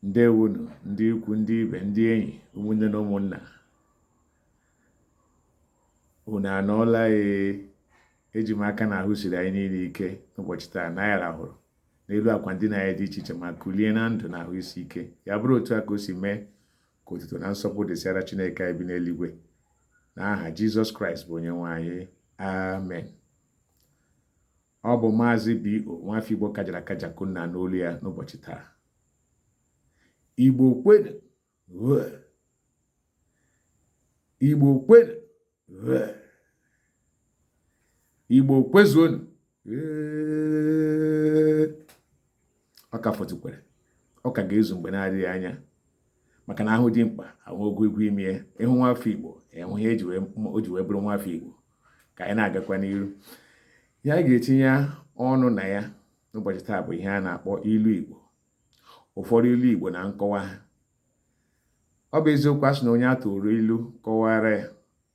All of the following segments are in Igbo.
ǹdeèwonù ndị ikwu̇ ndị ibè ndị enyì ụmụnne nà ụmụ̀nnà ùnù ànọọla ėė ejì m aka nà àhụ sìrì ànyị niilė ike n'ụbọ̀chị̀ taà nà anyị ràhụ̀rụ̀ n'elu àkwà ndinà anyị dị ichè ichè mà kùlie na ndụ̀ nà àhụ isi ike yà bụrụ òtu à kà o sì mee kà òtùtù nà nsọpụ dịsịara Chineke anyị bi n'eluigwė nà ahà Jizọs Kraịst bụ̀ onye nwe anyị amen Ọ bụ Maazị B.O. Nwafọ Igbo kajara akaja ka unu na-anụ olu ya n'ụbọchị taa. Igbo kwenu Igbo kwenu Igbo kwezuonu ọ ka fọtụkwara ọ ka ga-ezu mgbe na-adịghị anya maka na a hụ dimkpa a hụ ogologo imi ya ịhụ nwafọ Igbo ịhụ ihe o ji wee bụrụ nwafọ Igbo ka anyị na-agakwa n'iru ihe anyị ga-etinye ọnụ na ya n'ụbọchị taa bụ ihe a na-akpọ ilu Igbo ụfọdụ ilu Igbo na nkọwa ha ọ bụ eziokwu a sị na onye a tụụrụ ilu kọwaara ya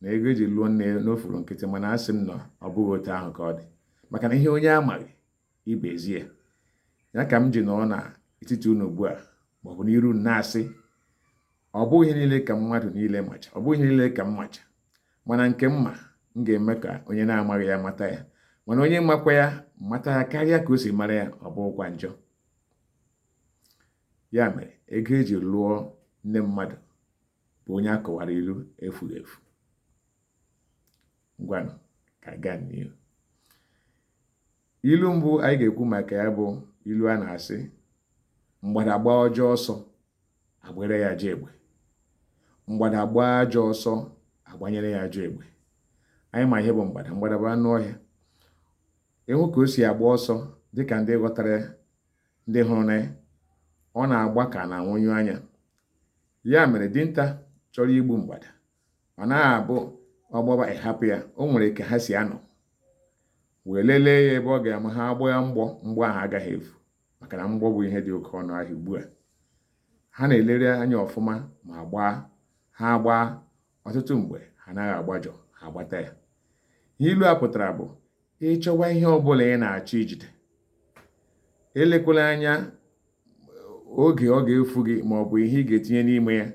na ego e ji lụọ nne na o furu nkịtị mana asị m na ọ bụghị otu ahụ ka ọ dị maka na ihe onye amaghị ibe ezie ya ya ka m ji nọọ na etiti unu ugbu a maọbụ n'iru unu na-asị ọ bụghị ihe niile ka mmadụ niile macha ọ bụghị ihe niile ka m macha mana nke m ma m ga-eme ka onye na-amaghị ya mata ya mana onye makwa ya mata ya karịa ka o si mara ya ọ bụghịkwa njọ ya mere ego e ji lụọ nne mmadụ bụ onye a kọwaara ilu efughị efu ngwanụ ka anyị gaa n'ihu ilu mbụ anyị ga-ekwu maka ya bụ ilu a na-asị mgbada gbaa ọjọọ ọsọ agbaara ya ajọ egbe mgbada gbaa ajọ ọsọ agbanyere ya ajọ egbe anyị ma ihe bụ mgbada mgbada bụ anụ ọhịa ịhụ ka o si agba ọsọ dịka ndị ghọtara ndị hụrụnụ ya ọ na-agba ka na nwụnyụ anya ya mere dinta chọrọ igbu mgbada ọ naghị abụ ọ gbaba ị hapụ ya o nwere ka ha si anọ wee lelee ya ebe ọ ga-ama ha agbaa ya mgbọ mgbọ ahụ agaghị efu maka na mgbọ bụ ihe dị oke ọnụ ahịa ugbu a ha na-elere anya ọfụma ma gbaa ha gbaa ọtụtụ mgbe ha naghị agbajọ ha agbata ya ihe ilu a pụtara bụ ị chọwa ihe ọbụla ị na-achọ ijide elekwala anya oge ọ ga-efu gị ma ọ bụ ihe ị ga-etinye n'ime ya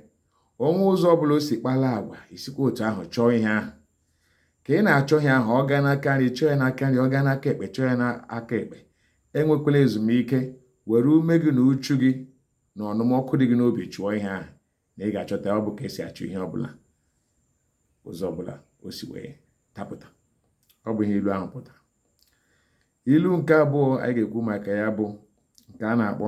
o nwee ụzọ ọbụla o si kpala agwa i sikwa otu ahụ chọọ ihe ahụ ka ị na-achọ ihe ahụ ọ gaa n'aka nri chọọ ya n'aka nri ọ gaa n'aka ekpe chọọ ya n'aka ekpe enwekwala ezumike were ume gị na uchu gị na ọnụm ọkụ dị gị n'obi chụọ ihe ahụ na ị ga-achọta ọ bụ ka e si achụ ihe ọbụla ụzọ ọbụla o si wee dapụta ọ bụ ihe ilu ahụ pụtara ilu nke abụọ anyị ga-ekwu maka ya bụ nke a na-akpọ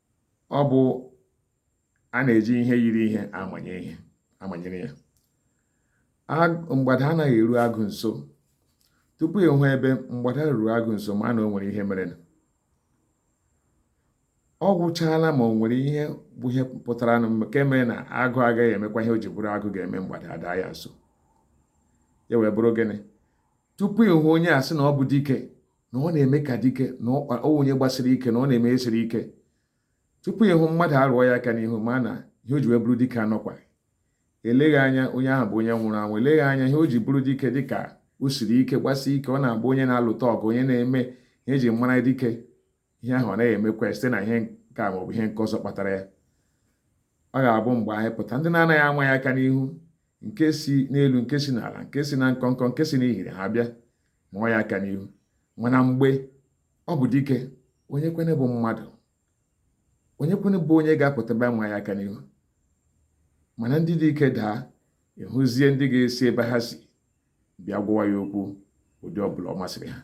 ọ bụ a na-eji ihe yiri ihe amanyere ya mgbada anaghị eru agụ nso tupu ị hụ ebe mgbada ruru agụ nso ma na o nwere ihe mere ọ gwụchaala ma o nwere ihe bụ ihe pụtara nụ nke mere na agụ agaghị emekwa ihe o ji bụrụ agụ ga-eme mgbada ada ya nso ya wee bụrụ gịnị tupu ị hụ onye a sị na ọ bụ dike na ọ na-eme ka dike na ọ onye gbasiri ike na ọ na-eme ihe siri ike tupu ị hụ mmadụ arụọ ya aka n'ihu ma na ihe o ji wee bụrụ dike anọkwa eleghị anya onye ahụ bụ onye nwụrụ anwụ eleghị anya ihe o ji bụrụ dike dịka o siri ike gbasi ike ọ na-abụ onye na-alụta ọgụ onye na-eme ihe e ji mara dike ihe ahụ ọ naghị emekwa site na ihe nke a maọbụ ihe nke ọzọ kpatara ya ọ ga-abụ mgbe anyị pụta ndị na-anaghị ama ya aka n'ihu nke si n'elu nke si n'ala nke si na nkọnkọ nke si n'ihiri ha bịa maa ya aka n'ihu mana mgbe ọ bụ dike onye kwene bụ mmadụ onye kwene bụ onye ga-apụta bịa maa ya aka n'ihu mana ndị dike daa ị hụzie ndị ga-esi ebe ha si bịa gwawa ya okwu ụdị ọbụla ọ masịrị ha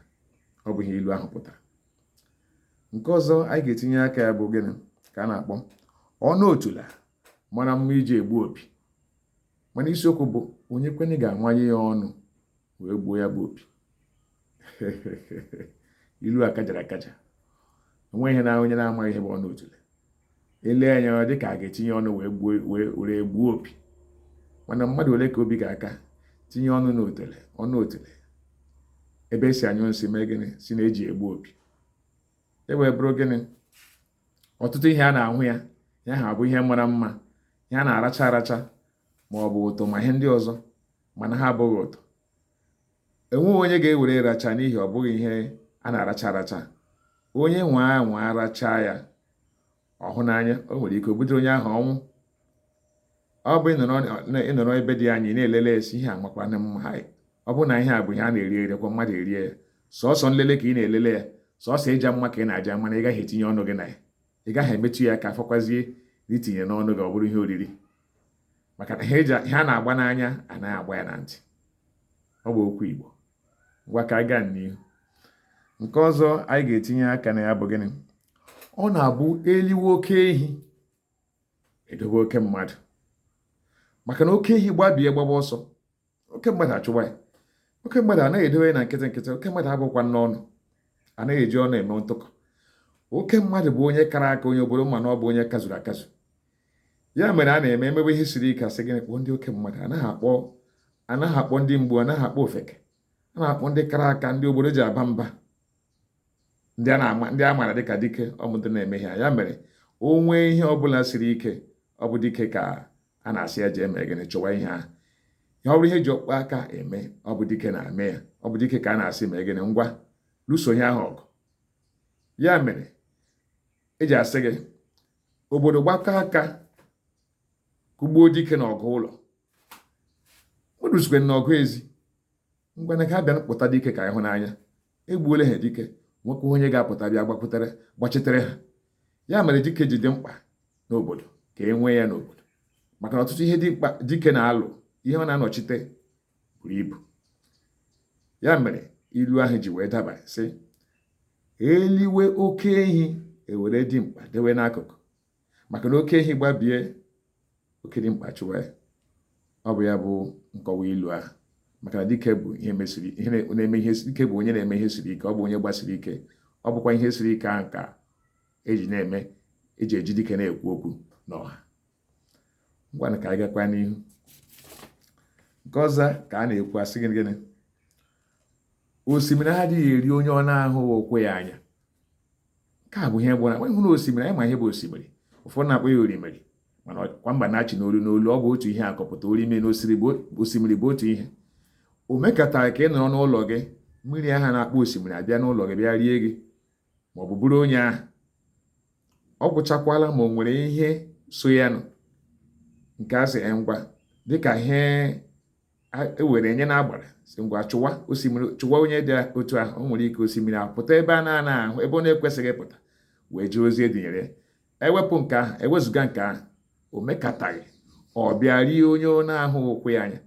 ọ bụ ihe ilu ahụ pụtara nke ọzọ anyị ga-etinye aka ya bụ gịnị ka a na-akpọ ọnụ otula mara mma iji egbu opi mana isiokwu bụ onye kwene ga-amanye ya ọnụ wee gbuo ya bụ opi ilu a kajara akaja o nwere ike na onye na-amaghị ihe bụ ọnụ otule ele anya ọ dị ka a ga-etinye ọnụ wee gbuo opi mana mmadụ ole ka obi ga-aka tinye ọnụ n'otele ọnụ otule ebe e si anyụ nsị mee gịnị sị na e ji egbu opi e wee bụrụ gịnị ọtụtụ ihe a na-ahụ ya ya ha bụ ihe mara mma ihe a na-aracha aracha ma ọ bụ ụtụ ma ihe ndị ọzọ mana ha abụghị ụtụ enweghị onye ga-ewere racha n'ihi ọ bụghị ihe a na-aracha aracha onye nwaa wee racha ya ọ hụ n'anya o nwere ike o butere onye ahụ ọnwụ ọ bụ ị nọrọ ebe dị anya na-elele asị ihe a amakwana mma ha ọ bụ na ihe a bụ ihe a na-eri eri kwa mmadụ erie ya sọsọ nlele ka ị na-elele ya sọsọ ịja mma ka ị na-aja mana ị gaghị etinye ọnụ gị na ya ị gaghị emetụ ya aka fọkwazie na itinye n'ọnụ gị ọ bụrụ ihe oriri maka na ihe a na-agba n'anya anaghị agba ya na ntị ọ bụ okwu Igbo ngwa ka anyị gaa n'ihu nke ọzọ anyị ga-etinye aka na ya bụ gịnị ọ na-abụ e liwe oke ehi edobe oke mmadụ maka na oke ehi gbabie gbaba ọsọ oke mmadụ achụwa ya oke mmadụ anaghị edobe na nkịtị nkịtị oke mmadụ abụkwa n'ọnụ anaghị eji ọnụ eme ntụkọ oke mmadụ bụ onye kara aka onye obodo ma na ọ bụ onye kazuru akazu ya mere a na-eme emebe ihe siri ike asị gịnị kpọọ ndị oke mmadụ anaghị akpọ anaghị akpọ ndị mgbu anaghị akpọ ofeke a na-akpọ ndị kara aka ndị obodo ji aba mba ndị a maara dịka dike ọmụdị na-eme ha ya mere o nwee ihe ọbụla siri ike ọ bụ dike ka a na-asị ya jee mee gịnị chọwa ihe ahụ ihe ọ bụrụ ihe ji ọkpọ aka eme ọ bụ dike na-eme ya ọ bụ dike ka a na-asị mee gịnị ngwa lụso ihe ahụ ọgụ ya mere eji asị gị obodo gbakọ aka kụgbuo dike na ọgụ ụlọ ma eruzikwa na ọgụ ezi ngwanụ ka abịa pụta dike ka ị hụ n'anya egbuole ha dike nwoke onye ga-apụta bịa gbakwutere gbachitere ha ya mere dike ji dị mkpa n'obodo ka e nwee ya n'obodo maka na ọtụtụ ihe dị mkpa dike na-alụ ihe ọ na-anọchite buru ibu ya mere ilu ahụ ji wee daba sị eliwe oke ehi ewere dimkpa dewe n'akụkụ maka na oke ehi gbabie oke dimkpa achụwa ya ọ bụ ya bụ nkọwa ilu ahụ maka na dike bụ ihe mesiri ihe na-eme ihe dike bụ onye na-eme ihe siri ike ọ bụ onye gbasiri ike ọ bụkwa ihe siri ike ahụ ka eji na-eme eji eji dike na-ekwu okwu n'ọha ngwanụ ka anyị gakwa n'ihu nke ọzọ ka a na-ekwu asị gịnị osimiri adịghị eri onye ọ na-ahụghị ụkwụ ya anya nke a bụ ihe bụ ịhụrụ osimiri anyị ma ihe bụ osimiri ụfọdụ na-akpọ ya orimiri mana kwa mba na-achị n'olu n'olu ọ bụ otu ihe ka ọ pụtara orimiri na osimiri bụ otu ihe o mekatara ka ị nọrọ n'ụlọ gị mmiri ahụ a na-akpọ osimiri abịa n'ụlọ gị bịa rie gị ma ọ bụ buru onye ahụ ọ gwụchakwala ma o nwere ihe so ya nụ nke a sị ngwa dịka ihe ewere nye na agbara sị ngwa chụwa osimiri chụwa onye dị otu ahụ o nwere ike osimiri apụta ebe a na-anaghị ahụ ebe ọ na-ekwesịghị ịpụta wee jee ozi edunyere ewepụ nke ahụ ewezụga nke ahụ o mekataghị ọ bịa rie onye ọ na-ahụghị ụkwụ ya anya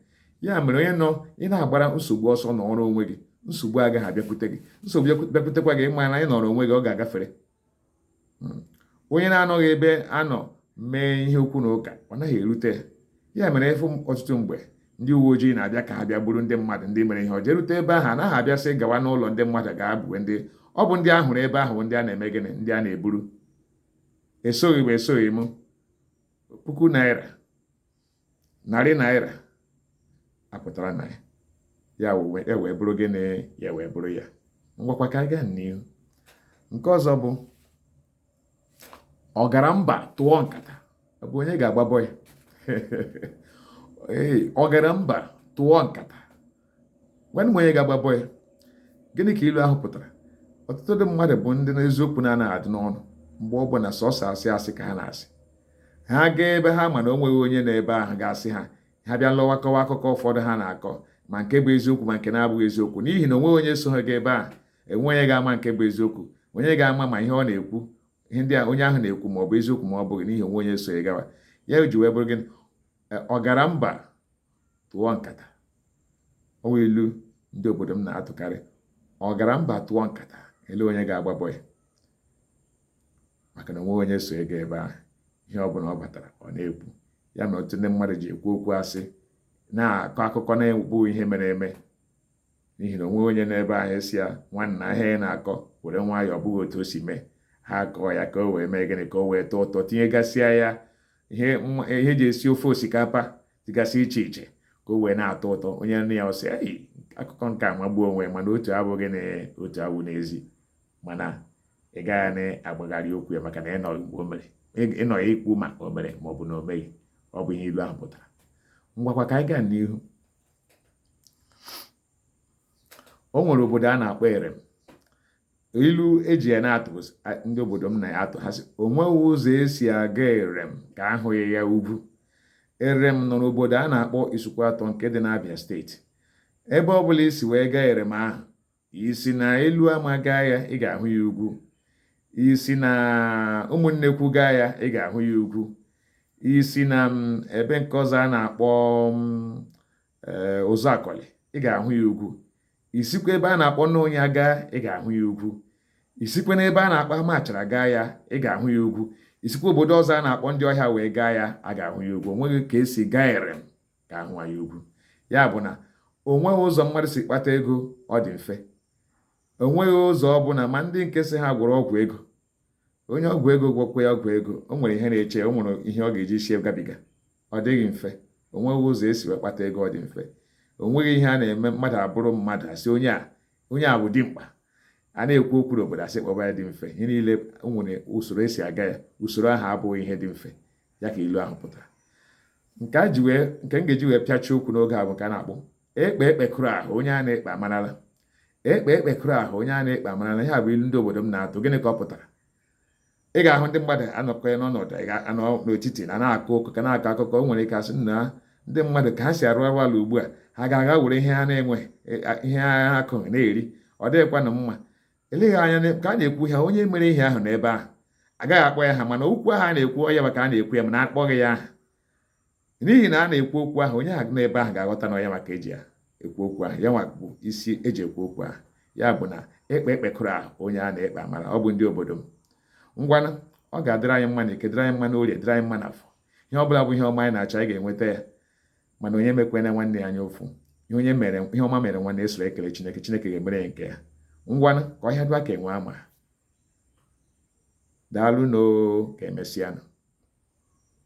ya mere onye nọ ị na-agbara nsogbu ọsọ nọrọ onwe gị nsogbu agaghị abịakwute gị nsogbu bịakwutekwa gị ịma na ị nọrọ onwe gị ọ ga-agafere hmm. onye na-anọghị ebe a nọ mee ihe okwu na ụka ọ naghị erute ya mere ịfụ ọtụtụ mgbe ndị uwe ojii na-abịa ka ha bịa buru ndị mmadụ ndị mere ihe ọjọọ erute ebe ahụ anaghị abịa sị gawa n'ụlọ ndị mmadụ gaa bue ndị ọ bụ ndị ahụrụ ebe ahụ ndị a na-eme gịnị ndị a na-eburu esoghị m esoghị m puku naira narị naira apụtara na ya ya wee bụrụ gịnị ya wee bụrụ ya ngwakwa ka a gaa n'ihu nke ọzọ bụ ọ gara mba tụọ nkata ọ bụ onye ga-agbabọ ya ee ọ gara mba tụọ nkata gwanụ m onye ga-agbabọ ya gịnị ka ilu ahụ pụtara ọtụtụ ndị mmadụ bụ ndị n'eziokwu na-anaghị adị n'ọnụ mgbe ọ bụla sọsọ asị asị ka ha na-asị ha gaa ebe ha ma na o nweghị onye nọ ebe ahụ ga-asị ha ha bịa lọwa kọwa akụkọ ụfọdụ ha na-akọ ma nke bụ eziokwu ma nke na-abụghị eziokwu n'ihi na onweghị onye so ha gaa ebe ahụ enweghị onye ga-ama nke bụ eziokwu onye ga-ama ma ihe ọ na-ekwu ihe ndị a onye ahụ na-ekwu ma ọ bụ eziokwu ma ọ bụghị n'ihi onweghị onye so ya gawa ya ji wee bụrụ gịnị ọ gara mba tụọ nkata ọ wụ ilu ndị obodo m na-atụkarị ọ gara mba tụọ nkata ele onye ga-agbabọ ya maka na onweghị onye so ya gaa ebe ahụ ihe ọ bụla ọ batara ọ na-ekwu ya mere ọtụtụ ndị mmadụ ji ekwu okwu asị na-akọ akụkọ na-abụghị ihe mere eme n'ihi na onweghị onye nọ ebe ahụ ga-asị ya nwanna ihe a ị na-akọ were nwayọọ ọ bụghị otu o si mee ha kọọ ya ka o wee mee gịnị ka o wee tọọ ụtọ tinyegasịa ya ihe eji esi ofe osikapa dịgasị iche iche ka o wee na-atọ ụtọ onye nụ ya ọ sị eyi akụkọ nke a amagbuo onwe mana otu abụghị na otu awụ n'ezi mana ị gaghị na-agbagharị okwu ya maka na ịnọghị ya ikwu ma o mere ma ọ bụ na o meghị ọ bụ ihe ilu ahụ pụtara ngwakwa ka anyị gaa n'ihu o nwere obodo a na-akpọ erem ilu eji ya na-atụ ndị obodo m na-atụ ha sị onweghị ụzọ esi aga erem ka ahụghị ya ugwu erem nọ n'obodo a na-akpọ isuikwuatọ nke dị n'abịa steeti ebe ọ bụla isi wee gaa erem ahụ isi na eluama gaa ya ị ga-ahụ ya ugwu isi na ụmụnnekwu gaa ya ị ga-ahụ ya ugwu isi na mm, ebe nke ọzọ a na-akpọ mm, ee eh, ụzụakọlị ị ga-ahụ ya ugwu isikwa ebe a na-akpọ nunya gaa ị ga-ahụ ya ugwu isikwa n'ebe a na-akpọ amachara gaa ya ị ga-ahụ ya ugwu isikwa obodo ọzọ a na-akpọ ndị ọhịa wee gaa ya a ga-ahụ ya ugwu onweghị ka esi gaa erem ka ahụghị ya ugwu ya bụ na onweghị ụzọ mmadụ si kpata ego ọ dị mfe onweghị ụzọ ọ bụla ma ndị nke sị ha gwọrọ ọgwụ ego onye ọgwụ ego gwọkwa ya ọgwụ ego o nwere ihe na-eche o nwere ihe ọ ga-eji sie gabiga ọ dịghị mfe o nweghị ụzọ esi wee kpata ego ọ dị mfe o nweghị ihe a na-eme mmadụ abụrụ mmadụ asị onye a onye a bụ dimkpa a na-ekwu okwu n'obodo asị kpọba ya dị mfe ihe niile o nwere usoro esi aga ya usoro ahụ abụghị ihe dị mfe ya ka ilu ahụ pụtara nke a ji wee nke m ga-eji wee pịachie okwu n'oge a bụ nke a na-akpọ ikpe ekpekuru ahụ onye a na-ekpe amarala ekpe ekpe kụrụ ahụ onye a na-ekpe amarala ihe a bụ ilu ndị obodo m na-atụ gịnị ka ọ pụtara ị ga-ahụ ndị mmadụ anọkọ ya n'ọnọdụ ị ga-anọ n'etiti na na-akọ ụkọ ka a na-akọ akụkọ o nwere ike a sị na ndị mmadụ ka ha si arụ arụ ala ugbu a ha ga-aga were ihe ha na-enweghị, ihe ha akụghị na-eri ọ dịghịkwanụ mma eleghị anya ka a na-ekwu ha onye mere ihe ahụ nọ ebe ahụ agaghị akpọ ya aha mana okwu ahụ a na-ekwu ọ ya nwa ka a na-ekwu ya mana akpọghị ya aha n'ihi na a na-ekwu okwu ahụ onye ahụ nọ ebe ahụ ga-aghọta na ọ ya nwa ka e ji ya ekwu okwu ahụ ya nwa bụ isi e ji ekwu okwu ahụ ya bụ na ekpe ekpe kụrụ ahụ onye a na-ekpe amara ọ bụ ndị obodo m ngwanụ ọ ga-adịrị anyị mma n'eke dịrị anyị mma n'orie dịrị anyị mma n'afọ ihe ọ bụla bụ ihe ọma anyị na-achọ anyị ga-enweta ya mana onye mekwena nwanne ya anya ụfụ ihe onye mere ihe ọma mere nwanne e soro ekele chineke chineke ga-emere ya nke ya ngwanụ ka ọhịa dụa ka enwe ama daalụnụ o ka emesịanụ